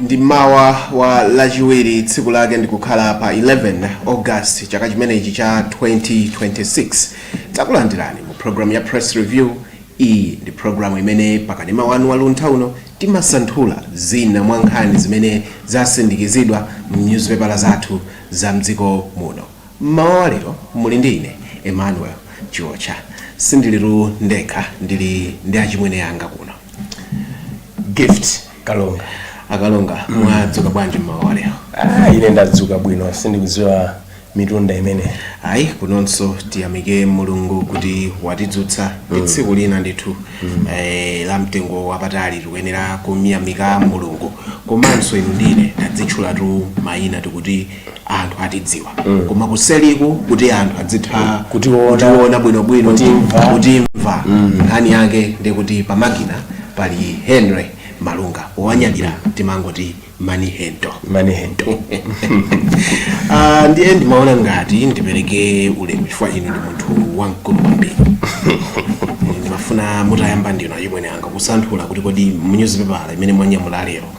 ndi mmawa wa lachiwiri tsiku lake ndikukhala pa 11 august chaka chimenechi cha 2026 takulandirani mu programu ya press review iyi ndi programu imene pakanema wanu wa luntha uno timasanthula zina mwa nkhani zimene zasindikizidwa mu nyuzipepala zathu za mdziko muno M'mawa wa lero muli ndi ine Emmanuel Chiotcha. Sindilitu ndekha, ndili ndi achimwene anga kuno. Gift Kalonga. Akalonga, mwadzuka bwanji m'mawa wa lero? Ah, ine ndadzuka bwino, sindikudziwa mitunda imeneyo. Ayi, kunonso tiyamike Mulungu kuti watidzutsa. Ndi tsiku lina ndithu eh, la mtengo wapatali tikuyenera kumyamika Mulungu. Komanso inu ndi ine tadzitchulatu mayina tikuti anthu atidziwa koma kuseriku kuti anthu adzitha Kutiona. kutiona bwinobwino Kutimva. kutimva nkhani yake ndikuti pamakina pali henry malunga wanyadira timangoti mani hento mani hento Ah, ndiye ndimaona ngati ndipereke ulemu chifukwa inu ndi munthu wamkulu kwambiri ndimafuna mutayamba ndinu achimwene anga kusanthula kuti kodi mu newspaper imene mwanyamula lero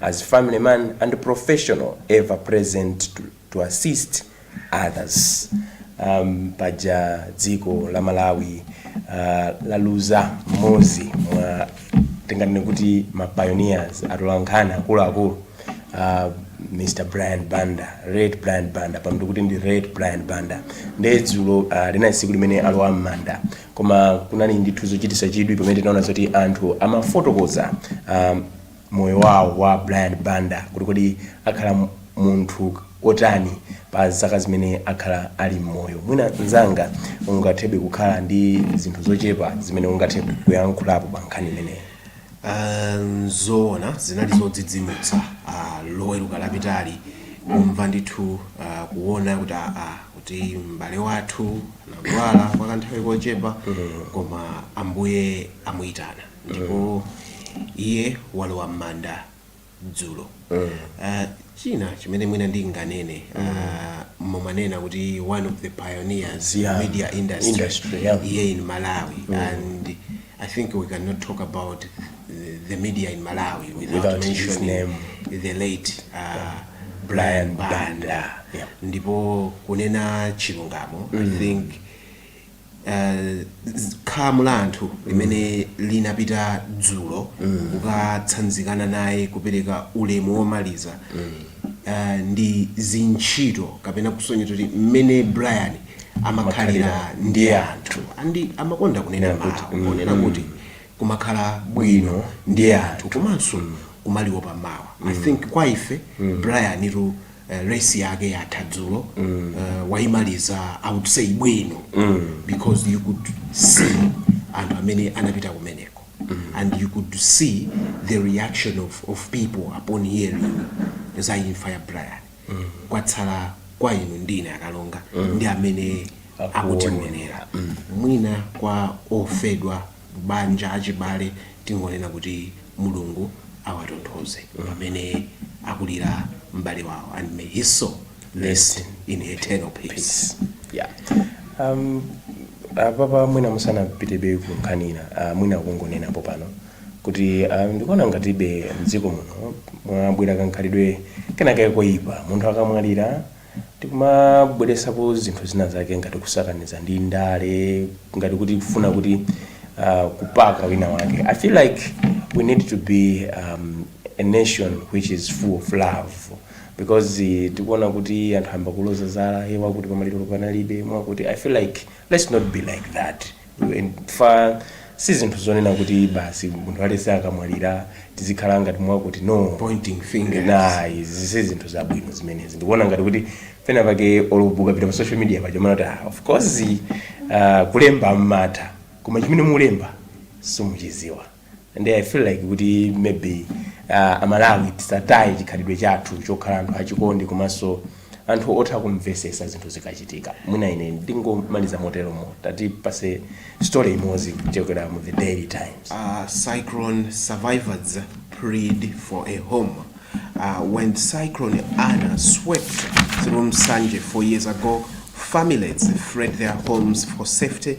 as family man and professional ever present to, to assist others um, paja dziko la malawi uh, laluza mmodzi mwa tinganene kuti ma pioneers atolankhani akuluakulu uh, mr brian banda red brian banda pa ntv kuti ndi red brian banda nde dzulo uh, linali tsiku limene alowa m'manda koma kunali ndithu zochititsa chidwi pamene tinaona zoti anthu amafotokoza um, moyo wawo wa Brian Banda kuti kodi akhala munthu otani pa zaka zimene akhala ali mmoyo. Mwina mnzanga ungathebe kukhala ndi zinthu zochepa zimene ungathe kuyankhulapo pa nkhani imeneyi. Nzoona zinali zodzidzimutsa loweruka lapitali kumva ndithu kuona kuti aa kuti m'bale wathu anadwala kwa kanthawi kochepa koma Ambuye amuitana. ndipo iye walowa m'manda dzulo Ah, china chimene mwina ndinganene ah, mumanena kuti one of the pioneers in Yeah. media industry, Industry, yeah. here in malawi and i think we cannot talk about the, the media in malawi without, Without his mentioning name. the late uh, Brian Brian Banda. Banda, yeah. ndipo kunena chilungamo i think khamu la anthu limene linapita dzulo kukatsanzikana naye kupereka ulemu womaliza eh, ndi chizindikiro kapena kusonyeza kuti mmene brian amakhalira ndi anthu and amakonda kunena mawu kunena kuti kumakhala bwino ndi anthu komanso kumawopa mawa i think kwa ife brian tu eh, race yake yatha dzulo mm. uh, waimaliza i would say bwino mm. because you could see anthu amene anapita kumeneko mm. and you could see the reaction of, of people upon hearing za imfa ya Brian mm. kwatsala kwa inu ndi ine a Kalonga mm. ndi amene Akuone. akutionera mm. mwina kwa ofedwa banja, achibale, tingonena kuti Mulungu awatonthoze pamene akulira m'bale wawo and may his soul rest in eternal peace. Yeah. Um, apapa mwina musanapitebe ku nkhanizo ah, mwina kungonenapo pano kuti ah, ndikuona ngatibe mdziko muno mwabwera kankhalidwe kenakake koyipa munthu akamwalira tikumabweretsapo zinthu zina zake ngati kusakaniza ndi ndale ngati kuti kufuna kuti uh, kupaka wina wake i feel like we need to be um, a nation which is full of love because eh, tikuona kuti anthu amba kuloza zala eh, awakuti pamaliro panalibe mwakuti i feel like let's not be like that Imfa si zinthu zonena kuti basi munthu aliyense akamwalira tizikhala ngati mwakuti, no. Pointing fingers. Ayi, izi si zinthu zabwino zimenezi. Ndikuona ngati kuti pena pake olo ukapita pa social media paja umaona kuti ah, of course ah, kulemba mmatha koma chimene mulemba simuchiziwa. and i feel like kuti maybe uh, amalawi tisataye chikhalidwe chathu chokhala anthu achikondi komanso anthu otha kumvesesa zinthu zikachitika mwina ine ndingomaliza moteromo tatipatseni story imodzi kuchokera mu the daily times uh, cyclone survivors plead for a home uh, when cyclone Ana swept through Nsanje four years ago families fled their homes for safety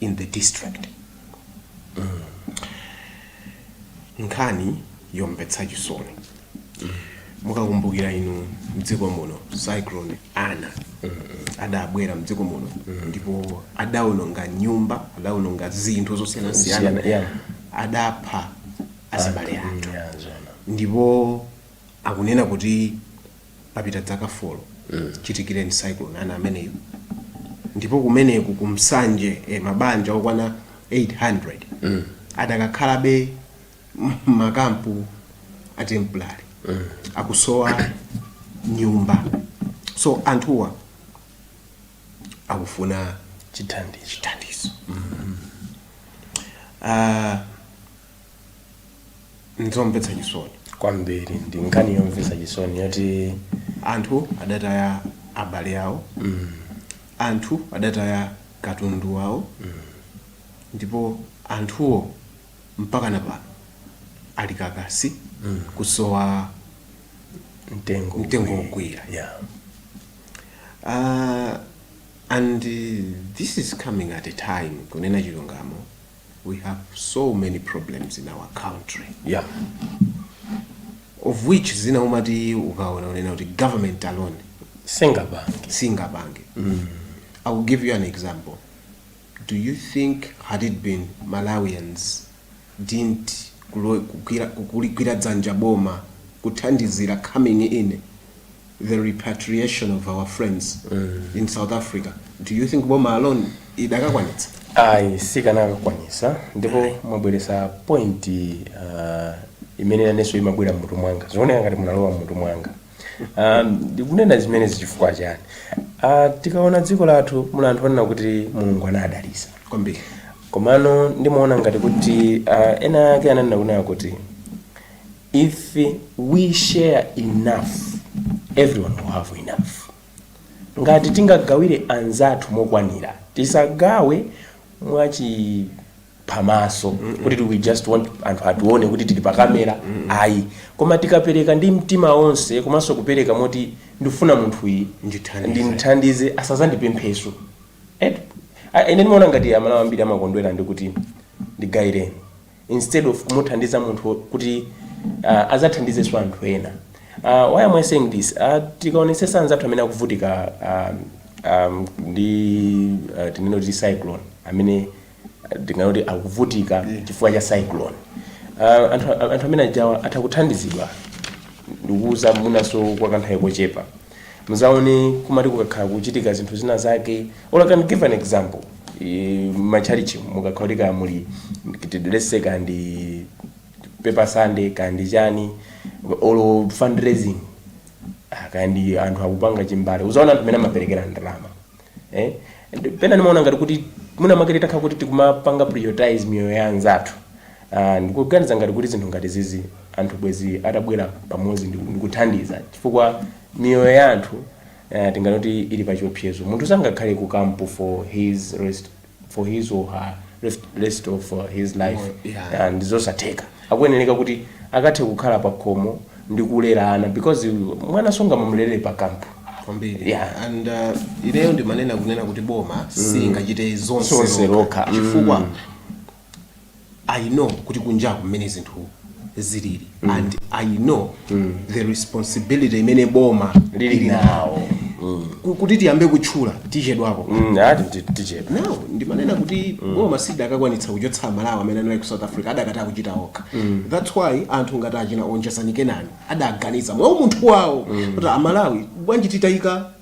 in the district nkhani yomvetsa chisoni mukakumbukira inu mdziko muno cyclone Ana adabwera mdziko muno ndipo adaononga nyumba adaononga zinthu zosiyanasiyana Siyana, yeah. adapha azibale athu Yeah, zona. ndipo akunena kuti papita dzaka folo chichitikireni cyclone Ana ameneyo ndipo kumeneku ku Nsanje eh, mabanja okwana 800 adakakhalabe m'makampu a temporary akusowa nyumba so anthuwa akufuna chithandizo Ah, nzomvetsa chisoni kwambiri ndi nkhani yomvetsa chisoni yoti anthu adataya abale awo anthu adataya katundu wawo ndipo anthuwo mpaka na pano ali kakasi kusowa mtengo wogwira. yeah. uh, and uh, this is coming at a time kunena chilungamo we have so many problems in our country yeah. of which zina umati ukaona unena kuti government alone singabange singabange mm. i will give you an example do you think had it been malawians didn't kulo- kugwira- kuligwira dzanja boma kuthandizira coming in the repatriation of our friends in south africa do you think boma alone idakakwanitsa ayi sikanakakwanisa ndipo mwabweresa point uh, imene nanenso imabwera mmutu mwanga zioneka ngati munalowa mmutu mwanga um, ndikunena zimenezi chifukwa chani uh, tikaona dziko lathu muna anthu onena kuti mulungu anadalisa kwambiri komano ndimaona ngati kuti uh, ena ake ananena kunena kuti If we share enough, everyone will have enough, ngati tingagawire anzathu mokwanira, tisagawe mwachiphamaso kuti we just want anthu atione kuti tili pa kamera ayi, koma tikapereka ndi mtima onse komanso kupereka moti ndifuna munthu uyi ndimthandize asazandipempheso And ine ndimaona ngati amalawi ambiri amakondwera ndikuti ndigayireni instead of kumuthandiza munthu kuti uh, azathandizenso anthu ena uh, why am i saying this uh, tikaonetsetsa anzathu amene akuvutika um, um, ndi uh, tinene kuti cyclone amene uh, tinganene kuti akuvutika chifukwa cha cyclone uh, anthu, anthu amene ajawo atha kuthandizidwa ndikuuza mwinanso kwa kanthawi kochepa muzaone kuti mwina kukakhala kuchitika zinthu zina zake or I can give an example Eh, machalichi mukakhala kuti kaya muli let's say kandi paper sunday kandi chani or fundraising Ah, kandi anthu akupanga chimbale uzaona anthu amene amaperekera ndalama Eh? And pena ndimaona ngati kuti mwina mwake titakhala kuti tikumapanga prioritize miyoyo ya anzathu Ah, ndikuganiza ngati kuti zinthu ngati izizi anthu bwezi atabwera pamodzi ndi- ndikuthandiza chifukwa miyoyo ya anthu eh, tinganoti ili pa chiopsezo munthu sangakhale ku kampu for his rest, for his or her rest, rest of uh, his life Moyo, yeah. Ah, ndizosatheka akuyenereka kuti akathe kukhala pa khomo ndi kulera ana because mwana sungamamulerere pa kampu kwambiri Yeah. and uh, ineyo ndimanena kunena kuti boma singachite zonse lokha chifukwa i know kuti kunjaku mmene zinthu zilili mm. and i know mm. the responsibility imene boma lili nawo mm. kuti tiyambe kutchula tichedwapo mm, no ndimanena kuti mm. boma silidakakwanitsa kuchotsa amalawi amene anali ku south africa adakati azichita okha mm. thats why anthu ngati achina Onjezani Kenani adaganiza mwa umunthu wawo mm. kuti amalawi bwanji titayika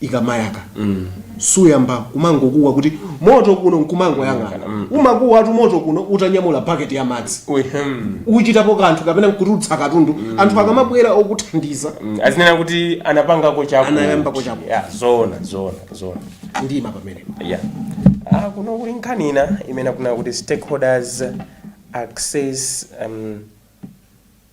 ikamayaka suyamba kumangokuwa kuti moto kuno nkumangoyang'ana umakuwatu moto kuno utanyamula baketi ya madzi Uhem. uchitapo kanthu kapena nkutulutsa katundu anthu akamabwera okuthandiza Mm, azinena kuti anapangako chako Anayambako chako. yeah, zona zona zona ndima pamene yeah. ah, kuno kuli nkhani ina imene akunena kuti stakeholders access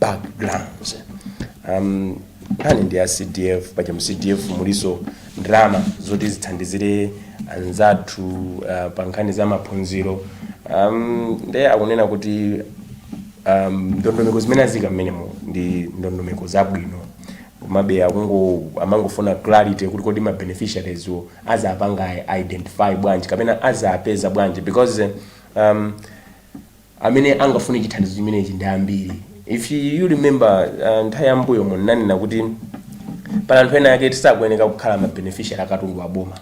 backgrounds um, nkhani ndi ya cdf paja mu cdf muliso ndalama zoti zithandizire anzathu uh, pa nkhani za maphunziro um, nde akunena kuti um, ndondomeko zimene azika mmenemo ndi ndondomeko zabwino komabe akungo- amangofuna clarity kuti kodi ma beneficiaries wo azapanga identify bwanji kapena azapeza bwanji because um, Amene angafune chithandizo chimenechi ndi ambiri. If you remember nthawi ya mmbuyomo ndinanena kuti pali anthu ena ake oti sakuyeneka kukhala ma beneficiary a katundu wa boma.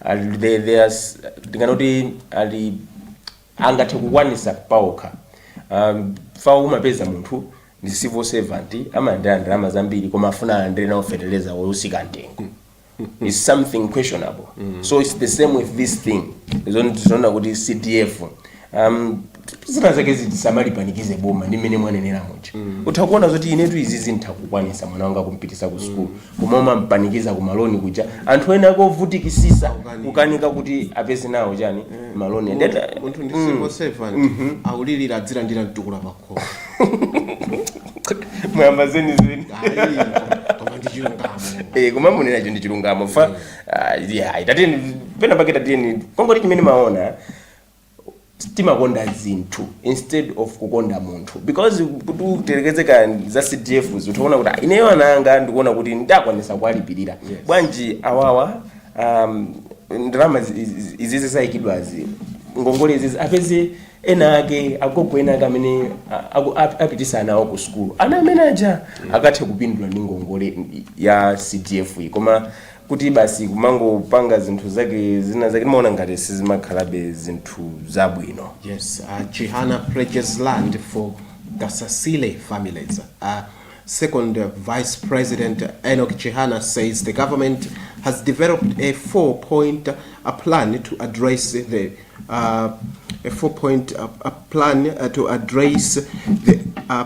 Ali they, they are s- ndingana kuti ali angathe kukwanisa paokha. Um, fawo umapeza munthu ndi civil servant amalandira ndalama zambiri koma afuna alandire nawo feteleza wotsika mtengo. is something questionable so it's the same with this thing zoona kuti cdf um, zina zake tisamalipanikize boma ndi mmene mwanenera muja utha kuona zoti inetu izizi nditha kukwanisa mwana wanga kumpitisa ku sukulu koma umampanikiza ku maloni kuja anthu ena ake ovutikisisa kukanika kuti apeze nawo chani maloni Munthu- munthu ndi civil servant akulilira azilandira mtukula pako mwayamba zeni zeni koma ndi chilungamo Eh, koma mukunenacho ndi chilungamo fa ah, yeah, tatiyeni pena pake tatiyeni kungoti chimene ndimaona timakonda zinthu instead of kukonda munthu because kuti uyerekeze ka za cdf utha kuona kuti "Ah, ineyo ana anga ndikuona kuti nditha kukwanisa kuwalipirira bwanji awawa um, ndalama zi- izi- izizi zayikidwazi ngongole izizi apeze ena ake agogo ena ake amene a- aku- ap- apitisa ana awo ku sukulu ana amene aja akathe kupindula ndi ngongole ya cdf iyi koma kuti basi kumangopanga zinthu zake zina zake ndimaona ngati sizimakhalabe zinthu zabwino Yes, uh, Chihana pledges land for Kasasile families. Uh, second uh, Vice President Enoch Chihana says the government has developed a four-point uh, plan to address the uh, a four point uh, uh, plan uh, to address the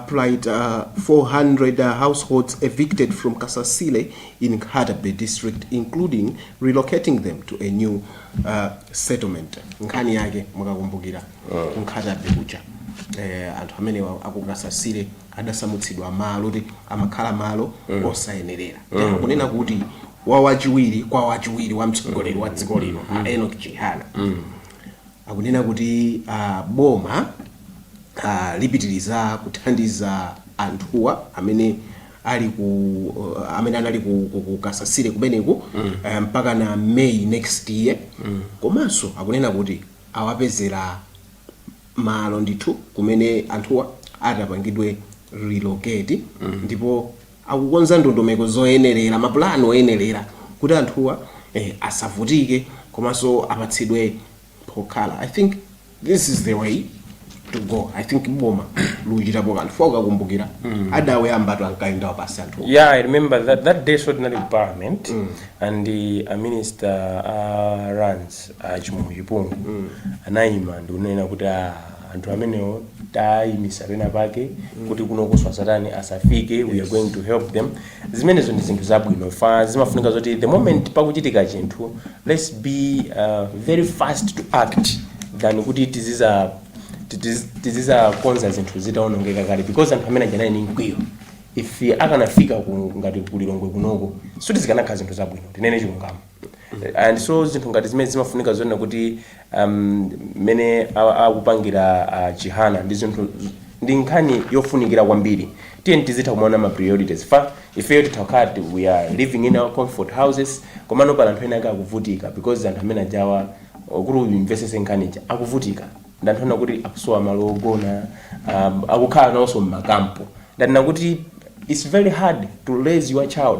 plight uh, 400 uh, households evicted from Kasasile in Nkhatabay district, including relocating them to a new uh, settlement. Nkhani yake mukakumbukira ku Nkhatabay kuja. Eh, anthu amene amenewa aku Kasasile adasamutsidwa malo kuti amakhala malo osayenerera. Kunena kuti wa wachiwiri kwa wachiwiri wa mtsogoleri wa dziko lino mm. a Enoch Chihana mm. akunena kuti uh, boma uh, lipitiriza kuthandiza anthuwa amene ali ku uh, amene anali ku, ku, ku Kasasire kumeneku mm. uh, mpaka na May next year mm. komanso akunena kuti awapezera malo ndithu kumene anthuwa atapangidwe relocate mm. ndipo akukonza ndondomeko zoyenelera, ma plan oyenelera kuti anthuwa eh asavutike komanso apatsidwe pokhala I think this is the way to go I think boma likuchitapo kanthu chifukwa ukakumbukira adauyambatu ankayenda wapansi anthuwa. Yeah, I remember that that day so tinali ku parliament and the a minister a lands a Chimwemwe Chipungu anaima ndikunena kuti ah anthu amenewo tayimisa pena pake kuti kunokonso asatani asafike we are going to help them zimenezo ndi zinthu zabwino chifukwa zimafunika zoti the moment pakuchitika chinthu let's be uh, very fast to act than kuti tiziza tiziz- tizizakonza zinthu zitaonongeka kale because anthu amene aja anali ndi mkwiyo if akanafika ku- ngati ku Lilongwe kunoko sikuti zikanakhala zinthu zabwino tinene chilungamo and so zinthu ngati zimene zimafunika zonena kuti um, mmene a- akupangira uh, Chihana ndi zinthu ndi nkhani yofunikira kwambiri tiyeni tizitha kumaona ma priorities chifukwa ifeyo titakhala ti- we are living in our comfort houses komano pali anthu ena ake akuvutika because anthu amene ajawa uh, kuti uyimvetsetse nkhani ija akuvutika ndi anthu ena kuti akusowa malo ogona um, akukhala nawonso mmakampu ndanena kuti it's very hard to raise your child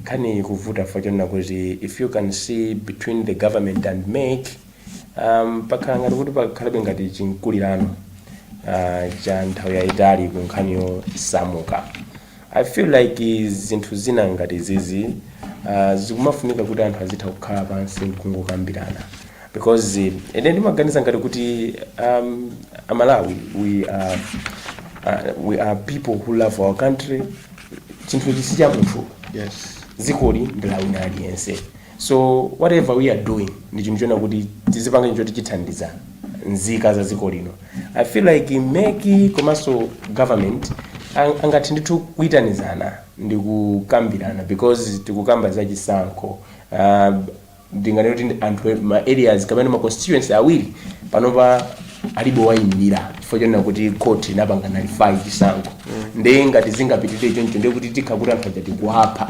Nkhaniyi ikuvuta chifukwa chonena kuti if you can see between the government and MEC um, pakhala ngati kuti pakhalabe ngati chimkulirano uh, cha nthawi yayitali ku nkhani yosamuka i feel like zinthu zina ngati zizi uh, zikumafunika kuti anthu azitha kukhala pansi nkungokambirana because eh, ine ndimaganiza ngati kuti um, amalawi we are, uh, we are people who love our country chinthu ichi si cha munthu Yes. dzikoli ndi la wina aliyense so whatever we are doing ndi chinthu chonena kuti tizipanga chinthu choti chithandiza nzika za dziko lino i feel like MEC komanso government ang- angathe ndithu kuyitanizana ndi kukambirana because tikukamba za chisankho uh, ndinganene kuti anthu ma areas kapena ma constituency awiri panopa alibe owayimirira chifukwa chonena kuti court inapanga nullify chisankho ndiye ngati zingapitirire choncho ndiye kuti tikhala kuti anthu aja tikuwapha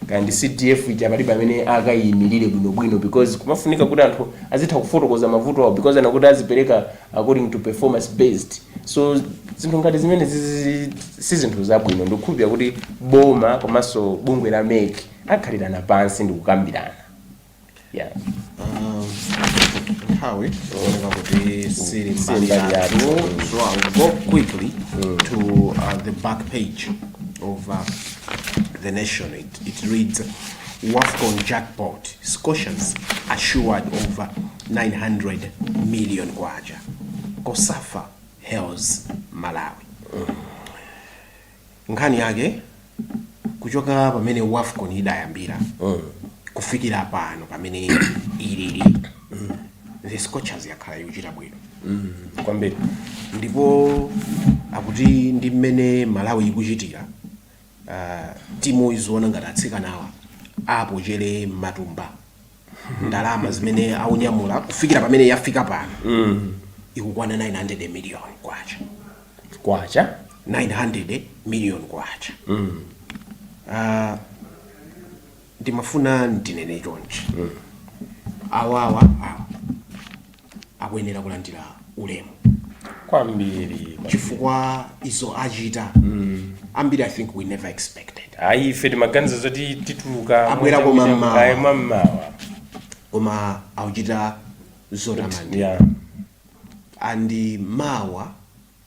kaya ndi CDF ija palibe amene akayimirire bwinobwino because kumafunika kuti anthu azitha kufotokoza mavuto awo because ananena kuti azipereka according to performance based so zinthu ngati zimene zizi- si zinthu zabwino ndikukhulupirira kuti boma komanso bungwe la MEC akhalirana pansi ndikukambirana yeah. nthawi ikuoneka kuti siili siili mbali mbali yathu yathu. so i'll go quickly to uh, the back page of uh, the nation it, it reads wafcon jackpot Scorchers assured over 900 million kwacha COSAFA hails Malawi nkhani yake kuchoka pamene wafcon idayambira kufikira pano pamene ilili the scorchers yakhala yochita bwino kwambiri ndipo akuti ndi mmene malawi ikuchitira uh, timu izoona ngati atsikanawa apochere m'matumba ndalama zimene akunyamula kufikira pamene yafika pano mm. ikukwana 900 million kwacha kwacha 900 million kwacha mm. uh, ndimafuna ndinene chonchi mm. awawa awa akuyenera kulandira ulemu kwambiri chifukwa zomwe achita ambiri i think we never expected ayi ife timaganiza zoti tituluka Abwerako m'mamawa. Ayi, m'mamawa koma akuchita zotamandika yeah. and mawa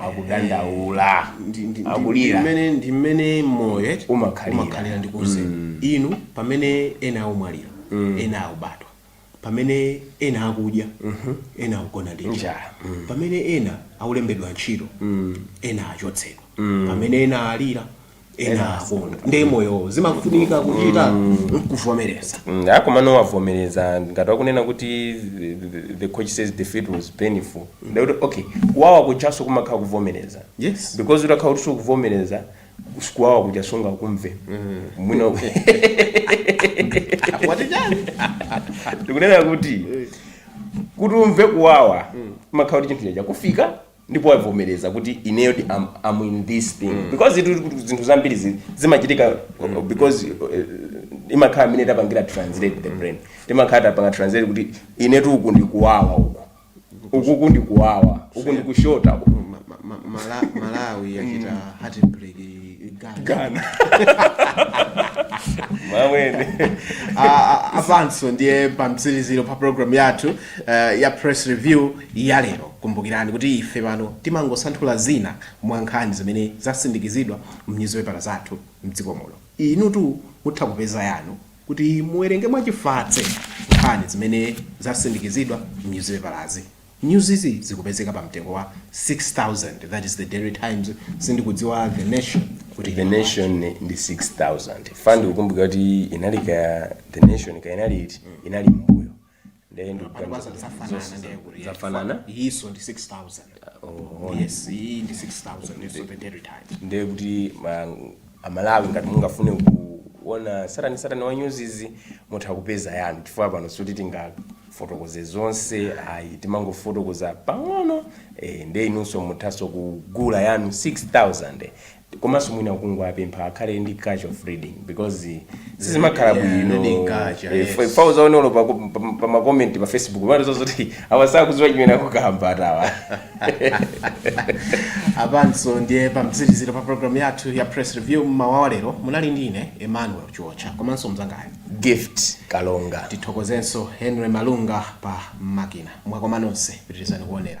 akudandaula Ndi- ndi- ndi- akulira ndi mmene ndi mmene moyo eti, Umakhalira. umakhalira ndikuuze inu pamene ena akumwalira ena akubadwa pamene ena akudya ena akugona ndi njala Njala. pamene ena akulembedwa ntchito ena achotsedwa pamene ena alira ena akondwa ndi moyo zimafunika kuchita kuvomereza Mm, ah, komano wavomereza ngati wakunena kuti the- the- the coach says defeat was painful ndikuti okay kuwawa kujanso kumakhala kuvomereza Yes. because utakhala kuti sukuvomereza kuwawa kuja sungakumve mwina wati chani ndikunena kuti kuti umve kuwawa umakhala kuti chinthu chija chakufika ndipo wavomereza kuti ineyo I'm, I'm in this thing mm. because itu kuti zinthu zambiri zi- zimachitika mm. because uh, imakhala mmene tapangira translate the brain timakhala tapanga translate kuti inetu uku ndikuwawa uku ukuku ndikuwawa uku ndikushota uku Ma- ma- ma- Mala- malawi yachita heartbreak Ghana. gana mamwene Ah, ah, apanso ndiye pamtsiliziro pa program yathu eh, ya press review ya lero. Kumbukirani kuti ife pano timangosanthula zina mwa nkhani zimene zasindikizidwa m'nyuzipepala zathu m'dziko muno. Inutu mutha kupeza yanu kuti muwerenge mwachifatse nkhani zimene zasindikizidwa m'nyuzipepalazi. News izi zikupezeka pa mtengo wa 6,000, that is the Daily Times, sindikudziwa The Nation kuti ili bwanji. The Nation ndi 6,000. Fandikukumbukira kuti inali kaya The Nation kaya inali iti inali m'mbuyo. ndiye ndikuganiza zafanana ndiye kuti zafanana iyinso ndi 6000 oh, yes iyi ndi 6000 iyinso the Daily Times ndiye kuti ma- amalawi ngati mungafune kuona tsatanetsatane wa news izi mutha kupeza yanu chifukwa pano sikuti tingafotokoze zonse ayi timangofotokoza pang'ono eh, ndiye inunso muthanso kugula yanu 6000 komanso mwina kungowapempha akhale ndi culture of reading because sizimakhala Yeah, bwino reading culture, Eh, yes. fa- fa uzaona olo pa- pa- pa makomenti pa facebook umatoziwa zoti awa sakudziwa chimene akukamba athawa apanso ndiye pamtsirizo pa programu yathu ya press review mmawa wa lero munali ndi ine emmanuel chiotcha komanso mzangayo gift kalonga tithokozenso henry malunga pa makina mwakoma nonse pitirizani kuonera